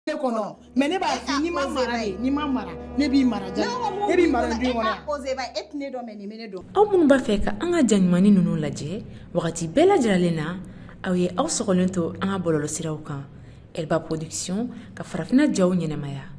ne kɔnɔ mais ne b'a f'i n'i ma mara de n'i ma mara ne b'i mara ja ne b'i mara du kɔnɔ aw minnu b'a fɛ ka an ka jaɲumanni ninnu lajɛ wagati bɛɛ lajɛlen na aw ye aw sɔgɔlen to an ka bɔlɔlɔsiraw kan elba production ka farafinna jaw ɲɛnamaya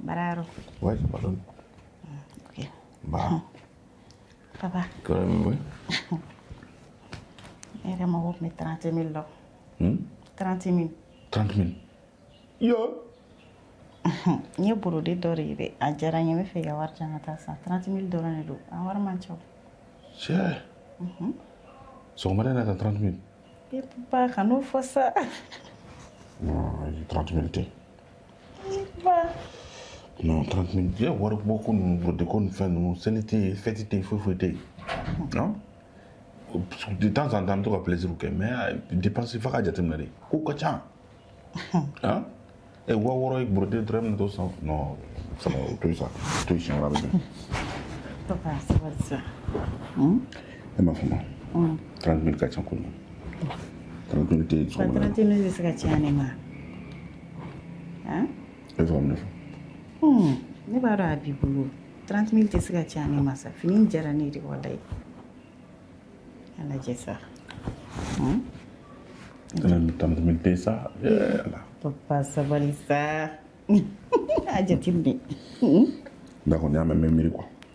Bararo. Oui, pardon. Ok. Bah. Papa. Quand même, oui. Ne mago bɛ 30 000 la. Hmm? 30 000. 30 000. Yo! n ye brodé dɔ de ye dɛ a diyara n ye n b'a fɛ i ka wari di yan n ka taa a san trente mille dɔrɔn de don a wari man ca o tiɲɛ sɔgɔmada in na tan trente mille e papa kan'o fɔ sa trente mille tɛ non 30 mille tɛ yow waribɔko ninnu brodé ko fɛn ninnu seli tɛ yen fɛti tɛ yen foyi foyi tɛ yen non de temps en temps an bɛ to ka plaisir kɛ mais euh, dépense fana ka jateminɛ dɛ ko ka ca ah ɛ waa wɔɔrɔ ye brodé dɔrɔn ne t'o san non sama o to yen sa to yen siɲɛ wɛrɛ a bɛ bɛn. Papa, sabali sa. Hmm? e m'a faamu trente mille ka ca ko ɲɛ trente mille tɛ sɔgɔma trente mille tɛ se ka caya ne ma e bɛ faamu ne fɛ ne b'a dɔn a b'i bolo trente mille tɛ se ka caya ne ma sa fini diyara ne ye dɛ walayi a lajɛ sa trente mille tɛ sa ala papa sabali sa a jateminɛ d'accord n y'a mɛn n bɛ miiri quoi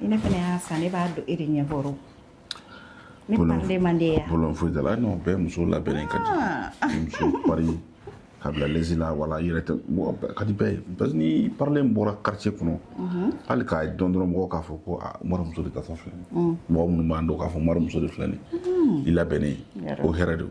ni ne fana y'a san ne b'a dɔn e de ɲɛ bɔrɔ ne parilen man di yan bolo foyi t'a la n'o bɛɛ muso labɛnnen ka di ah. muso pari ka bila lezi la wala i yɛrɛ tɛ mɔgɔ ka di bɛɛ ye parce que ni n parilen bɔra quartier kɔnɔ mhm. hali k'a don dɔrɔn mɔgɔw k'a fɔ ko a ah, mara muso de ka fa filɛ mm. mɔgɔ minnu b'an dɔn k'a fɔ mara muso de filɛ nin mm. i labɛnnen o hɛrɛ don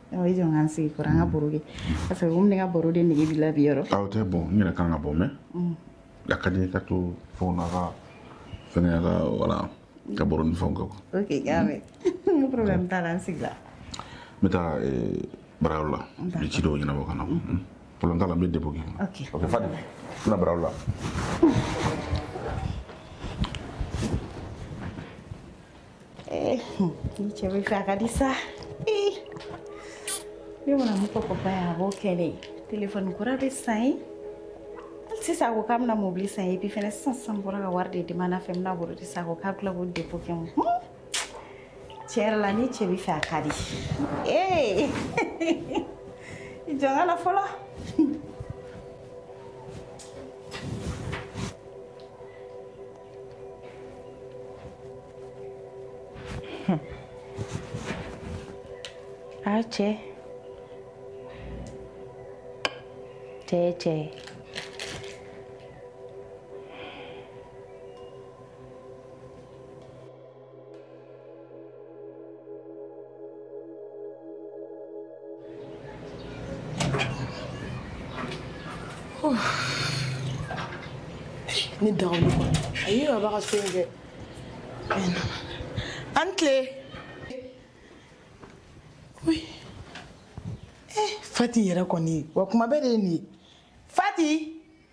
Ɔ i jɔ n ka n sigi i kɔrɔ an ka baro kɛ parce que komi ne ka baro de nege b'i la bi yɔrɔ. Ah c'est bon n yɛrɛ kan ka bɔ mais. A ka di n ye ka to fɛnw na ka fɛngɛ a ka wala ka baro ni fɛnw kɛ quoi. Ok n y'a mɛn n ko problème t'a la n sigi la. N bɛ taa baarayɔrɔ la n bɛ ci dɔw ɲɛnabɔ ka na problème t'a la n bɛ dépôt kɛ. Ok ok Fadi n bɛna baarayɔrɔ la. Eh, ni cɛ b'i fɛ a ka di sa eh, ne mana mun fɔ papa ye a b'o kɛ ne ye telefɔni kura bɛ san n ye sisan a ko k'a bɛna mobili san n ye epi fɛnɛ sisan sisan n bɔra ka wari de demander a fɛ n bɛna brodé san a ko k'a bɛ tila k'o depo kɛ n kun tiɲɛ yɛrɛ la ni cɛ b'i fɛ a ka di ee i jɔ n ka na fɔlɔ. a cɛ cɛ ye cɛ ye ne daga olu kɔnɔ a yi yɛrɛ b'a ka so in kɛ an tile fati yɛrɛ kɔni wa kuma bɛɛ de ye nin ye fati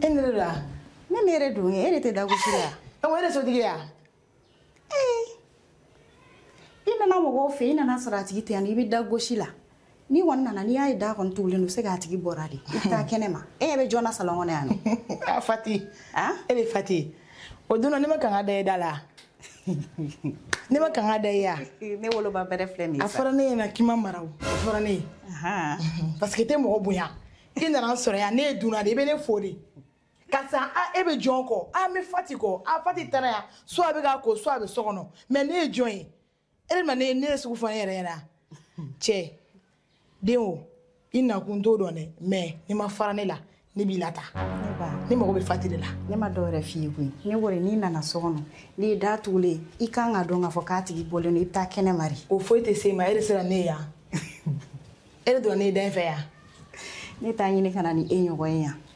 e yɛrɛ don wa ne ne yɛrɛ don e de tɛ da gosi la e ko e de sotigi ya i nana mɔgɔw fɛ i nana sɔrɔ a tigi tɛ yan i bɛ da gosi la n'i kɔni nana n'i y'a ye da kɔni tugulen don c'est que a tigi bɔra de i bɛ taa kɛnɛ ma e ɲɛ bɛ jɔn na salɔn kɔnɔ yan nɔ a fati e bɛ fati o don na ne man kan ka da e da la ne man kan ka da i ya ne woloba bɛrɛ filɛ nin a fɔra ne ɲɛna k'i ma mara o a fɔra ne ye parce que tɛ mɔgɔ bonya i nana n sɔrɔ yan ne ye dunan de i bɛ ne fo de karisa a e bɛ jɔn kɔ a n bɛ fati kɔ a fati taara yan soit a bɛ k'a ko soit a bɛ so kɔnɔ mais ne ye jɔn ye e ma ne de sugu fɔ ne yɛrɛ ɲɛna cɛ den o i nakun n t'o dɔn dɛ mais n'i ma fara ne la ne b'i lata ne mago bɛ fati de la ne ma dɔwɛrɛ f'i ye koyi ne ko de n'i nana so kɔnɔ n'i ye da tugulen i kan ka dɔn k'a fɔ k'a tigi bɔlen don i bɛ taa kɛnɛ ma de o foyi tɛ se ma e de sera ne ye yan e de donna ne da in fɛ yan ne t'a ɲini ka na ni e ɲɔgɔn ye yan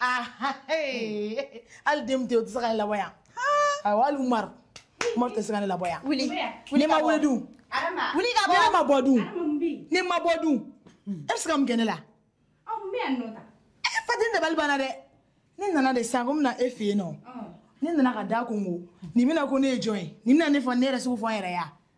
Ah, ah, hali den tɛ o tɛ se ka ne labɔ yan awɔ hali umaru umaru tɛ se ka ne labɔ yan wuli ne ma wuli dun wuli ka bɔ ne ma bɔ dun ne ma bɔ dun e bɛ se ka mun kɛ ne la e fati n dabali banna dɛ ne nana de sisan ko n bɛna e fɛ yen nɔ ne nana ka da kɔnkɔn nin bɛna ko ne ye jɔn ye nin bɛna ne fɔ ne yɛrɛ sugu fɔ n yɛrɛ ya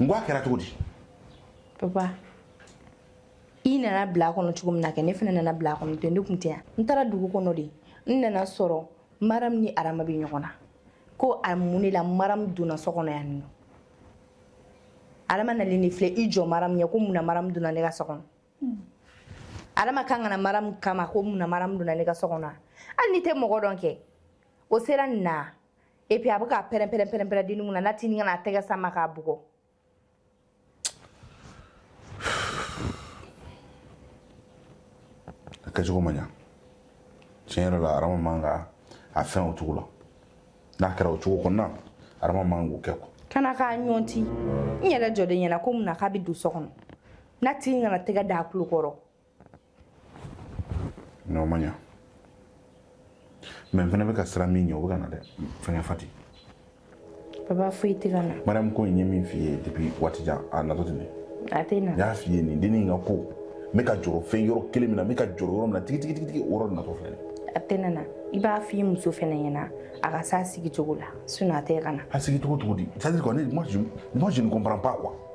n ko a kɛra cogo di papa i nana bila a kɔnɔ cogo min na kɛ ne fana nana bila a kɔnɔ ten ne tun tɛ yan n taara dugu kɔnɔ de n nana sɔrɔ maram ni arama bɛ ɲɔgɔn na ko a mun de la maram donna so kɔnɔ yan nɔ arama nalen de filɛ i jɔ maram ɲɛ ko mun na maram donna ne ka so kɔnɔ hmm. arama kan ka na maram kama ko mun na maram donna ne ka so kɔnɔ hali n'i tɛ mɔgɔ dɔn kɛ o sera nin na et puis a bɛ ka pɛrɛn pɛrɛn pɛrɛn pɛrɛn dennin kunna n'a tini ka na a tɛgɛ sama k'a bugɔ a kɛcogo ma ɲa tiɲɛ yɛrɛ la arama man kan k'a fɛn o cogo la n'a kɛra o cogo kɔni na arama man kan k'o kɛ quoi ka na k'a ɲɔnti n yɛrɛ jɔlen ɲɛna ko mun na k'a bɛ don so kɔnɔ n'a tini ka na tɛgɛ da a tulo kɔrɔ n'o ma ɲa mais n fana bɛ ka siran min ɲɛ o bɛ ka na dɛ fɛngɛ fati baba foyi tɛ ka na mariyamu ko in ye min f'i ye depuis waati jan a natɔ tɛ nin a tɛ na n y'a f'i ye nin dennin ka ko n bɛ ka jɔrɔ fɛn yɔrɔ kelen min na n bɛ ka jɔrɔ yɔrɔ min na tigitigitigi o yɔrɔ natɔ filɛ a tɛ na na i b'a f'i muso fana ɲɛna a ka s'a sigi cogo la sinon a tɛ ka na a sigi cogo cogo di c'est à dire quoi ne moi je ne comprends pas quoi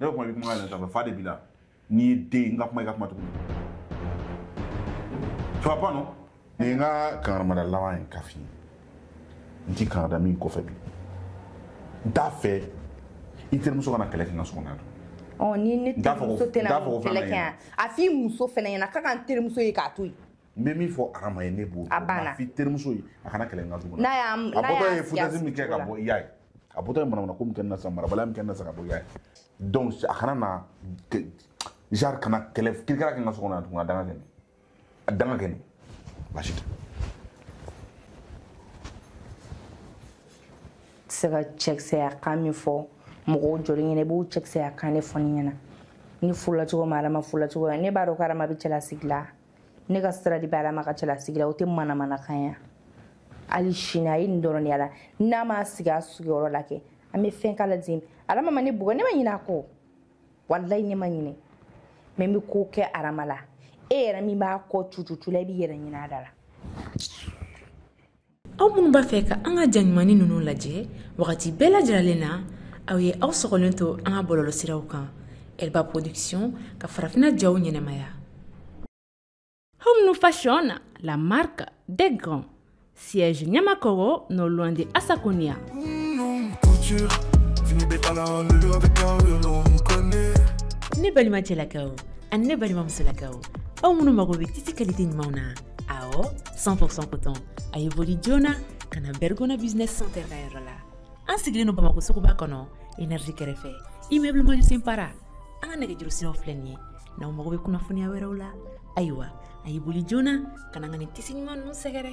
ne bɛ kuma i bɛ kuma yɛlɛ sanfɛ fa de b'i la n'i ye den ye n ka kuma i ka kuma tuguni ça va pas non nin ye n ka kangarimada laban ye k'a f'i ye n t'i kangarida nin kɔfɛ bi n t'a fɛ i terimuso kana kɛlɛ kɛ n ka so kɔnɔ yan ɔ ni ne terimuso tɛna kɛlɛ kɛ yan a f'i muso fɛnɛ ɲɛna k'a ka n terimuso ye k'a to yen n bɛ min fɔ adama ye ne b'o f'i terimuso ye a kana kɛlɛ n ka du kɔnɔ a bɔtɔ ye foutaise min kɛ ka bɔ i y'a ye a bɔtɔ ye manamana ko min kɛ n na sa marabaliya min kɛ n na sa ka bɔ i y'a ye donc a kana na genre ka na kɛlɛ kirikara kɛ n ka so kɔnɔ yan tuguni a dan ka kɛ nin a dan ka kɛ nin baasi tɛ tɛ se ka cɛkisɛya kan min fɔ mɔgɔw jɔlen ɲɛna i b'o cɛkisɛya kan de fɔ ne ɲɛna ni furula cogo ma adama furula cogo ne b'a dɔn ko adama bɛ cɛlasigi la ne ka sira de bɛ adama ka cɛlasigi la o tɛ manamanakan ya hali sini a ye nin dɔrɔn de y'a la n'a ma sigi a sigiyɔrɔ la kɛ an bɛ fɛn k'a la ten adama ma ne bugɔ ne ma ɲinɛ a kɔ walayi ne ma ɲinɛ mais n bɛ ko kɛ adama la e yɛrɛ min b'a kɔ cucucu la i b'i yɛrɛ ɲini a da la aw minnu b'a fɛ ka an ka ja ɲumannin ninnu lajɛ wagati bɛɛ lajɛlen na aw ye aw sɔgɔlen to an ka bɔlɔlɔsiraw kan elba production ka farafina jaw ɲɛnɛmaya Hommes Fashion, la marque des grands. Siège Nyamakoro, non loin de Asaconia. Ne balima cɛlakaw ani ne balima musolakaw aw minnu mago bɛ tisi kalite ɲumanw na awɔ 100% coton a ye boli joona ka na bergona business center ka yɔrɔ la an sigilen don bamakɔ suguba kɔnɔ énergie kɛrɛfɛ immeuble mandjou simpara an ka nɛgɛjuru siraw filɛ nin ye n'aw mago bɛ kunnafoniya wɛrɛw la ayiwa a ye boli joona ka na ka nin tisi ɲuman ninnu sɛgɛrɛ